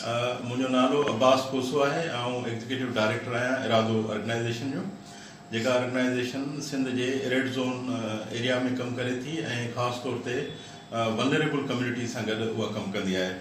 منهنجو نالو عباس کوسو آهي، آئون ايگزيڪيٽو ڊائريڪٽر آهيان ارادو آرگنائيزيشن جو، جيڪا آرگنائيزيشن سنڌ جي ريڊ زون ايريا ۾ ڪم ڪري ٿي ۽ خاص طور تي ولنريبل ڪميونٽي سان گڏ اها ڪم ڪندي آهي.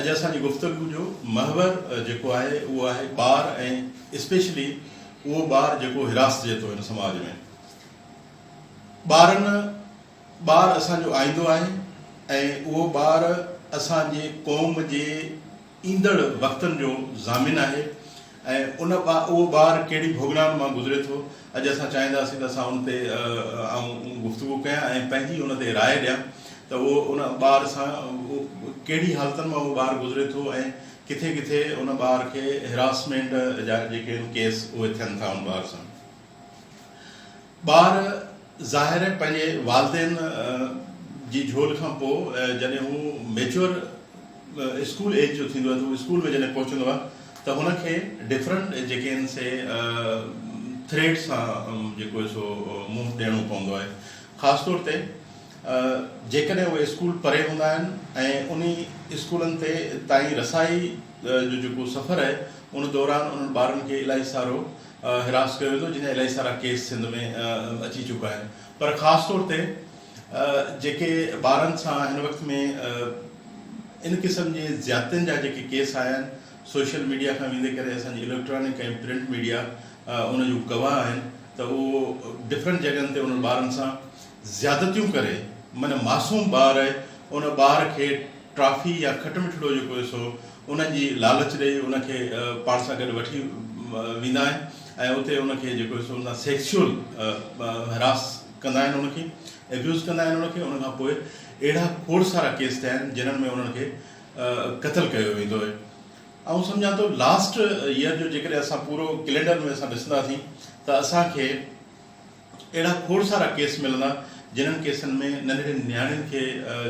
اڄ اسان جي گفتگو جو محور جيڪو آهي اهو آهي ٻار ۽ اسپيشلي اهو ٻار جيڪو حراست جي تو هن سماج ۾. ٻارن ٻار اسان جو آئيندو آهن ۽ اهو ٻار اسان جي قوم جي ايندڙ وقتن جو ضامن آهي ۽ ان اهو ٻار ڪهڙي ڀوڳنائن مان گذري ٿو اڄ اسان چاهينداسين ته اسان ان تي آئون گفتگو ڪيان ۽ پنهنجي ان تي راء ڏيان ته اهو ان ٻار سان ڪهڙي حالتن مان اهو ٻار گذري ٿو ۽ ڪٿي ڪٿي ان ٻار کي هراسمينٽ جا جيڪي ڪيس اهي ٿين ٿا ان ٻار سان. ٻار ظاهر پنهنجي والدين جي جهول کان پوء جڏهن هو ميچوئر اسڪول ايج جو ٿيندو آهي ته هو اسڪول ۾ جڏهن پهچندو آهي ته هن کي ڊفرنٽ جيڪي آهن سي ٿريٽ سان جيڪو آهي سو منهن ڏيڻو پوندو آهي خاص طور تي جيڪڏهن اهي اسڪول پري هوندا آهن ۽ انهي اسڪولن تي تائين رسائي جو جيڪو سفر آهي ان دوران انهن ٻارن کي الائي سارو هراس ڪيو ويندو جڏهن الائي سارا ڪيس سنڌ ۾ اچي چڪا آهن پر خاص طور تي جيڪي ٻارن سان هن وقت ۾ ان قسم جي زيادتين جا جيڪي ڪيس آيا آهن سوشل ميڊيا کان ويندي ڪري اسان جي اليڪٽرانڪ ۽ پرنٽ ميڊيا ان جو گواهه آهن ته اهو ڊفرنٽ جڳهن تي انهن ٻارن سان زيادتيون ڪري من معصوم ٻار ان ٻار کي ٽرافي يا کٽ مٺڙو جيڪو هيس سو ان جي لالچ ڏئي ان کي پاڻ سان گڏ وٺي ويندا آهن ۽ اتي ان کي جيڪو هيس ان سان سيڪسيول هراس ڪندا آهن ان کي ابيوز ڪندا آهن ان کي ان کان پوء اهڙا کوڙ سارا ڪيس ٿيا آهن جنھن ۾ انھن کي قتل ڪيو ويندو آهي آئون سمجھان ٿو لاسٽ ييئر جو جيڪڏهن اسان پورو ڪلينڊر ۾ اسان ڏسنداسين ته اسان کي اهڙا کوڙ سارا ڪيس ملندا جنھن ڪيسن ۾ ننڍڙين نياڻين کي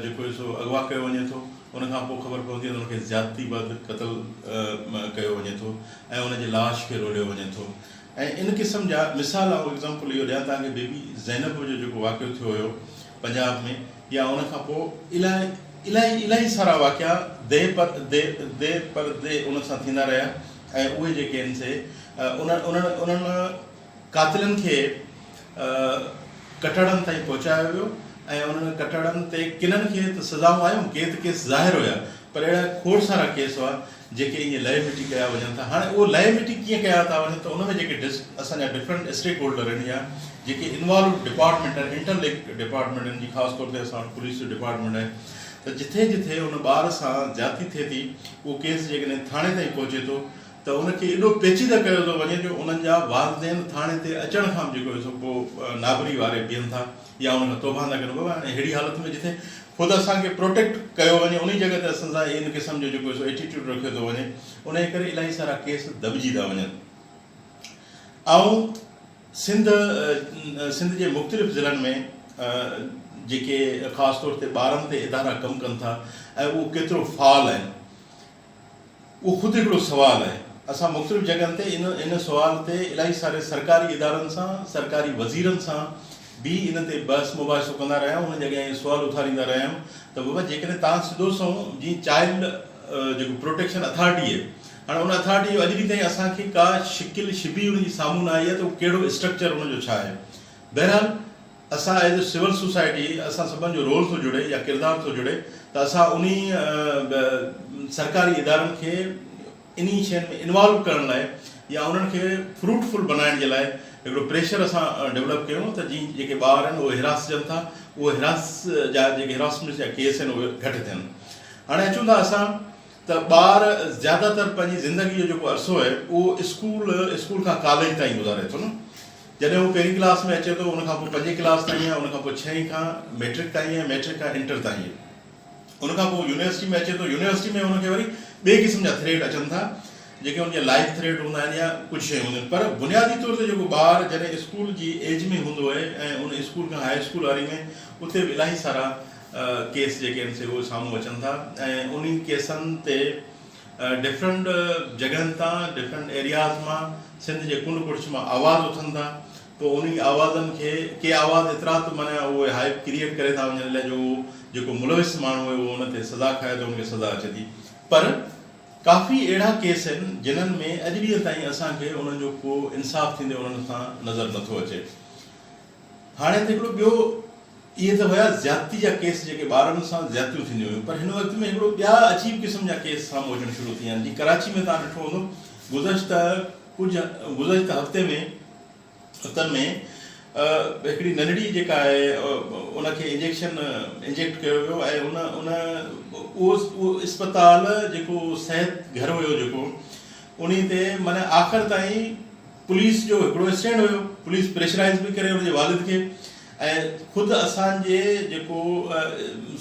جيڪو هي سو اغوا ڪيو وڃي ٿو ان کان پوء خبر پوندي آهي ته ان کي زيادتي بعد قتل ڪيو وڃي ٿو ۽ ان جي لاش کي روليو وڃي ٿو ۽ ان قسم جا مثال آئون ايگزامپل اهو ڏيان توهان کي بيبي زينب جو جيڪو واقعو ٿيو هيو پنجاب ۾ يا ان کان پوء الاهي الاهي الاهي سارا واقعا دي پر دي دي پر دي ان سان ٿيندا رهيا ۽ اهي جيڪي آهن سي انھن انھن انھن قاتلن کي ڪٽهڙن تائين پهچايو ويو ۽ انهن ڪٽهڙن تي ڪنن کي ته سزائون آيون، ڪي ته ڪيس ظاهر هيا پر اهڙا کوڙ سارا ڪيس هئا جيڪي ائين لهي مٽي ڪيا وڃن ٿا. هاڻي اهي لهي مٽي ڪيئن ڪيا ٿا وڃن ته ان ۾ جيڪي اسان جا ڊفرنٽ اسٽيڪ هولڊر آهن يا جيڪي انوالوڊ ڊپارٽمينٽ آهن، انٽر لنڪ ڊپارٽمينٽ آهن جي خاص طور تي اسان وٽ پوليس جو ڊپارٽمينٽ آهي ته جٿي جٿي ان ٻار سان زيادتي ٿئي ٿي اهو ڪيس جيڪڏهن ٿاڻي تائين پهچي ٿو ته ان کي ايڏو پيچيده ڪيو ٿو وڃي جو انهن جا والدين ٿاڻي تي اچڻ کان به جيڪو هي سو ڪو نابري واري بيهن ٿا يا ان کان توبهه نه ڪن بابا اهڙي حالت ۾ جتي خود اسان کي پروٽيڪٽ ڪيو وڃي انهي جڳهه تي اسان سان ان قسم جو جيڪو هي سو ايٽيٽيوڊ رکيو ٿو وڃي انهي ڪري الاهي سارا ڪيس دٻجي ٿا وڃن آئون سنڌ سنڌ جي مختلف ضلعن ۾ جيڪي خاص طور تي ٻارن تي ادارا ڪم ڪن ٿا ۽ اهو ڪيترو فعال آهن. اهو خود هڪڙو سوال آهي. اسان مختلف جڳهن تي ان ان سوال تي الائي ساري سرڪاري ادارن سان، سرڪاري وزيرن سان به ان تي بحث مباحثو ڪندا رهيا آهيون، انهن جي اڳيان اهو سوال اٿاريندا رهيا آهيون ته بابا جيڪڏهن تان سڌو سنئون جيئن چائلڊ جيڪو پروٽيڪشن اٿارٽي اهي هاڻي ان اٿارٽي جو اڄ ڏينهن تائين اسان کي ڪا شڪل شبيهه ان جي سامهون نه آئي آهي ته اهو ڪهڙو اسٽرڪچر ان جو ڇا آهي بهرحال اسان ايز اي سول سوسائٽي اسان سڀن جو رول ٿو جڙي يا ڪردار ٿو جڙي ته اسان انهي سرڪاري ادارن کي انهي شين ۾ انوالو ڪرڻ لاء يا انهن کي فروٽ فل بنائڻ جي لاء هڪڙو پريشر اسان ڊولپ ڪيون ته جي جيڪي ٻار آهن اهي هراسجن ٿا اهي هراس جا جيڪي هراسمينٽس جا ڪيس آهن اهي گهٽ ٿين هاڻي اچون ٿا اسان ته ٻار زياده تر پنهنجي زندگي جو جيڪو عرصو آهي اهو اسڪول اسڪول کان ڪاليج تائين گذاري ٿو نه جڏهن هو پهرين ڪلاس ۾ اچي ٿو، ان کان پوء پنجين ڪلاس تائين ۽ ان کان پوء ڇهين کان مئٽرڪ تائين ۽ مئٽرڪ کان انٽر تائين. ان کان پوء يونيورسٽي ۾ اچي ٿو، يونيورسٽي ۾ ان کي وري ٻئي قسم جا ٿريڊ اچن ٿا، جيڪي ان جا لائيف ٿريڊ هوندا آهن يا ڪجهه شيون هونديون آهن. پر بنيادي طور تي جيڪو ٻار جڏهن اسڪول جي ايج ۾ هوندو آهي ۽ ان اسڪول کان هاء اسڪول واري ۾ اتي به الاهي سارا ڪيس جيڪي آهن سي اهي سامهون اچن ٿا ۽ انهي ڪيسن تي ڊفرنٽ جڳهن تان ڊفرنٽ ايرياز مان سنڌ جي ڪنڊ ڪڙڇ مان آواز اٿن ٿا پوء انهي آوازن کي ڪي آواز ايترا ته معنيٰ اهي هائپ ڪريئيٽ ڪري ٿا وڃن لهه جو اهو جيڪو ملوث ماڻهو اهي اهو ان تي سزا کائي ته ان کي سزا اچي ٿي پر ڪافي اهڙا ڪيس آهن جنهن ۾ اڄ ڏينهن تائين اسان کي انهن جو ڪو انصاف ٿيندي انهن سان نظر نٿو اچي هاڻي هتي هڪڙو ٻيو اهي ته هيا زيادتي جا ڪيس جيڪي ٻارن سان زيادتيون ٿينديون هيون پر هن وقت ۾ هڪڙو ٻيا عجيب قسم جا ڪيس سامهون اچڻ شروع ٿي ويا آهن جيئن ڪراچي ۾ توهان ڏٺو هوندو گذشته ڪجهه گذشته هفتي ۾ هتن ۾ هڪڙي ننڍڙي جيڪا آهي ان کي انجيڪشن انجيڪٽ ڪيو ويو ۽ ان اهو اسپتال جيڪو صحت گهر هيو جيڪو انهي تي معنيٰ آخر تائين پوليس جو هڪڙو اسٽينڊ هيو، پوليس پريشرائيز به ڪري ان جي والد کي ۽ خود اسان جي جيڪو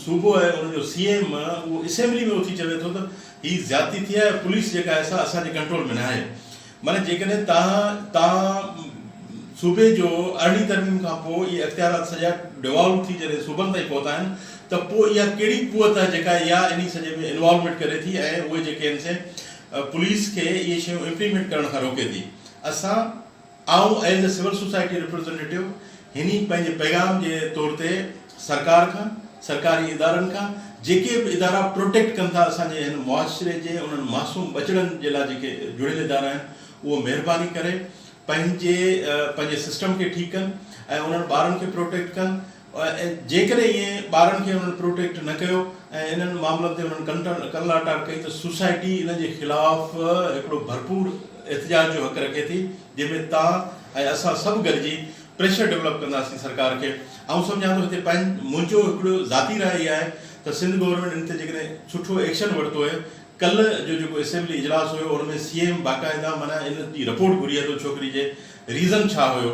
صوبو آهي ان جو سي ايم اهو اسيمبلي ۾ اٿي چوي ٿو ته هي زيادتي ٿي آهي پوليس جيڪا آهي سا اسان جي ڪنٽرول ۾ ناهي معنيٰ جيڪڏهن تهان تهان صوبي جو ارڙهين ترميم کان پوء اهي اختيارات سڄا ڊيوالو ٿي جڏهن صوبن تائين پهتا آهن ته پوء اها ڪهڙي قوت آهي جيڪا اها انهي سڄي ۾ انوالومينٽ ڪري ٿي ۽ اهي جيڪي آهن سي پوليس کي اهي شيون امپليمينٽ ڪرڻ کان روڪي ٿي اسان آئون as a civil society representative هني پنهنجي پيغام جي طور تي سرڪار کان سرڪاري ادارن کان جيڪي به ادارا پروٽيڪٽ ڪن ٿا اسان جي هن معاشري جي انهن معصوم ٻچڙن جي لاء جيڪي جڙيل ادارا آهن اهو مهرباني ڪري پنهنجي پنهنجي سسٽم کي ٺيڪ ڪن ۽ انهن ٻارن کي پروٽيڪٽ ڪن جيڪڏهن ائين ٻارن کي انهن پروٽيڪٽ نه ڪيو ۽ انهن معاملن تي انهن ڪنلاٽار ڪئي ته سوسائٽي انهن جي خلاف هڪڙو ڀرپور احتجاج جو حق رکي ٿي جنهن ۾ تان ۽ اسان سڀ گڏجي پريشر ڊولپ ڪنداسين سرڪار کي آئون سمجهان ٿو هتي منهنجو هڪڙو ذاتي راء اها آهي ته سنڌ گورنمينٽ ان تي جيڪڏهن سٺو ايڪشن ورتو ۽ ڪلهه جو جيڪو اسيمبلي اجلاس هيو ان ۾ سي ايم باقائده معنيٰ ان جي رپورٽ گهري ها ته ڇوڪري جي ريزن ڇا هيو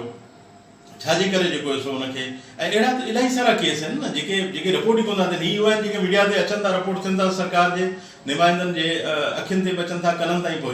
ڇاجي ڪري جيڪو هيو سو ان کي ۽ اهڙا ته الاهي سارا ڪيس آهن نه جيڪي جيڪي رپورٽ ئي ڪو نه ٿين هي اهي آهن جيڪي ميڊيا تي اچن ٿا رپورٽ ٿين ٿا سرڪار جي نمائندن جي اکين تي به اچن ٿا ڪنن تائين پهچن